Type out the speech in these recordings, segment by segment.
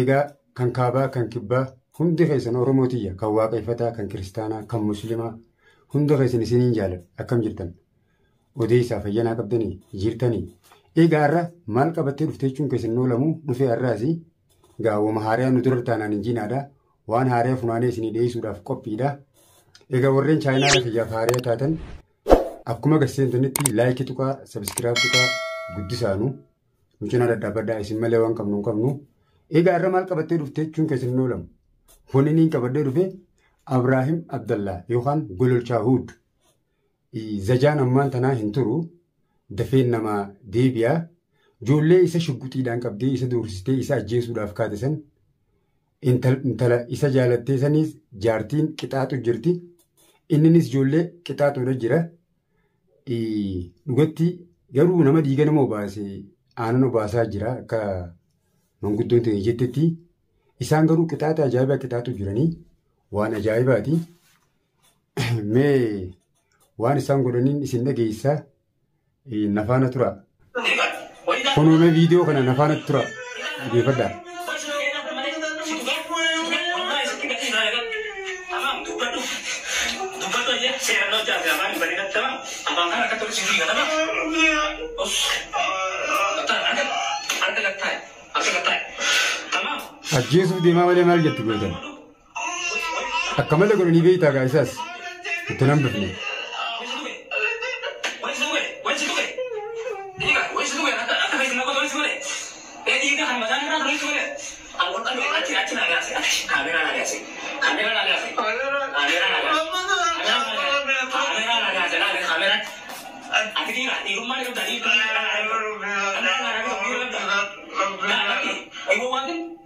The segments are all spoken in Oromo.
Egaa kan kaabaa kan kibbaa hundi keessan Oromoo tiyya kan waaqeffataa kan kiristaanaa kan muslimaa hunda keessan isiniin jaaladha akkam jirtan odeessaa fayyanaa qabdanii jirtanii egaa irra maal qabattee dhuftee jechuun keessan noolamuu dhufee har'aasi gaawwama haariyaa nu dura taanaan hin jiinaadha waan haariyaa funaanee isinii dhiyeessuudhaaf qophiidha egaa warreen chaayinaa kiyyaaf haariyaa taatan akkuma gadi seentanitti laayikii tuqaa sabiskiraayib tuqaa guddisaanu. Nu cinaa daddaabadhaa isin malee waan qabnu hin qabnu. Egaa irra maal qabattee dhuftee jechuun keessan hin oolamu. Wanni niin qabadhee dhufe Abraahim Abdallaa yookaan Gololchaa Huud. Zajaan ammaan tanaa hin turu. Dafeen namaa deebi'a. Ijoollee isa shugguxiidhaan qabdee isa doorsistee isa ajjeesuudhaaf kaate san intala isa jaalattee saniis jaartiin qixaaxu jirti. Inninis ijoollee qixaaxuudha jira. Dhugatti garuu nama dhiiga nama obaase aanan obaasaa jira akka manguddoon ta'e jettetti. Isaan garuu qixaaxa ajaa'ibaa qixaaxu jiranii waan ajaa'ibaati. Mee waan isaan godhaniin isin dhageessaa nafaana tura. Kunoo mee viidiyoo kana na faana tura dhaggeeffadhaa. Ajjeesuuf deemaa malee maal jetti gootan? Akka malee godhanii beektaa gaa isaas itti nan bifne. Thank you.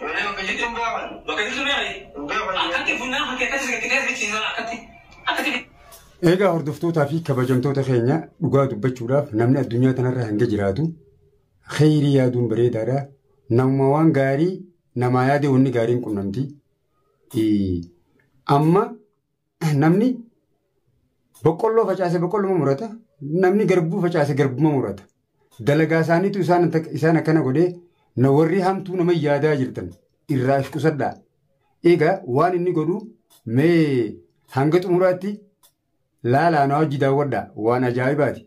Malee bakka jirtu hin gaafanne. Bakka jirtu beekna jee. Hin gaafanne. Akkatti funyaan kan keessatti sitti keessa bichiisan akkatti. Akkatti. Eegaa hordoftootaa fi kabajamtoota keenya dhugaa dubbachuudhaaf namni addunyaa kanarra hanga jiraatu kheyrii yaaduun bareedaadha. Nama waan gaarii namaa yaadee wanni gaariin qunnamti. Amma Namni boqqolloo facaase boqqolluma murata. Namni garbuu facaase garbuma murata. Dalagaa isaaniitu isaan isaan akkana godhee na warri hamtuu nama yaadaa jirtan irraa if qusadhaa. Egaa waan inni godhu mee hanga xumuraatti laalaa na wajji daawwadhaa waan ajaa'ibaati.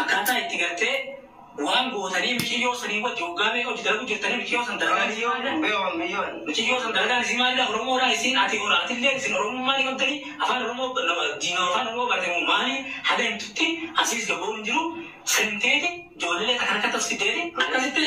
Akkaataa itti gartee waan gootanii miciyyoo sanii wajji waggaa meeqa wajji dalagu jirtanii miciyyoo san dalagaan isii maalidha? Beewan biyyoon. Miciyyoo san dalagaan isii maalidha? Oromoodhaa isiin ati hora atilleen isin oromummaa ni qabdanii afaan oromoo diinoo afaan oromoo baate moo maali haga himtutti asiis gabbahuun hin jiru seenteeti joollelee takka takkatti of fiddeeti akkasitti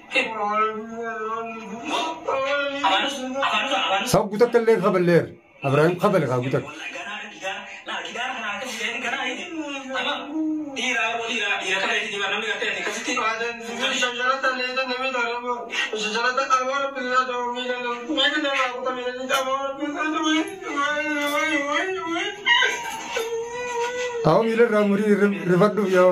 Hoggu takka illee hin kaballeer. Abrahaam kabale hoggu takka. Haa miila irraa murii rifadhuuf yoo.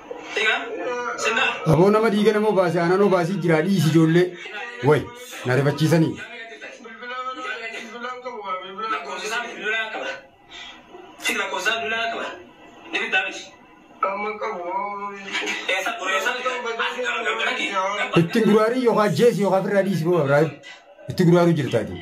Aboo nama dhiiga nama obaase aanan obaasii jira dhiisi ijoollee. Way na rifachiisanii. Ittiin guraarii yookaan jeesi yookaan firraa dhiisi boo Abrahaam. Itti guraaruu jirtaati.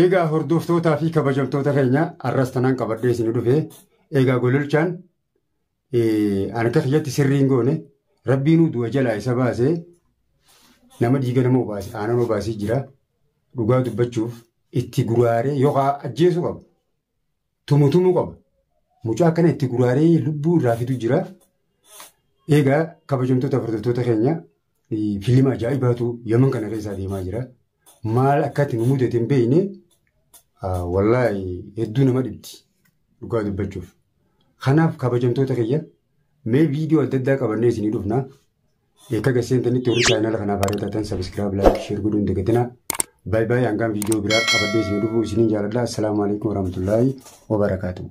Eegaa hordoftootaa fi kabajamtoota keenya har'as tanaan qabadhee isin dhufe eegaa gololchaan an akka kiyyatti sirriin goone rabbiinuu du'a jalaa isa baasee nama dhiiga nama obaase aanan obaasee jira dhugaa dubbachuuf itti guraaree yookaan ajjeesuu qaba. tumu tumu qaba. Mucaa akkana itti guraaree lubbuu irraa fidu jira. Egaa kabajamtoota hordoftoota keenya eh, fiilima ajaa'ibaatu yaman kana keessaa deemaa jira. Maal akkatti nu mudate hin beekne ah, wallaahi hedduu nama dhibdi dhugaa dubbachuuf. Kanaaf kabajamtoota keenya mee viidiyoo adda addaa qabannee isinii dhufna. Eekka gaseentanitti warri chaayinaala kanaaf haaraa taatan sabiskiraab laayik sheer godhuu hin dagatinaa. Baay baay hangaan viidiyoo biraa qabadhee isin dhufuu isiniin jaaladha. Assalaamu alaikum warahmatullaahi wabarakaatuhu.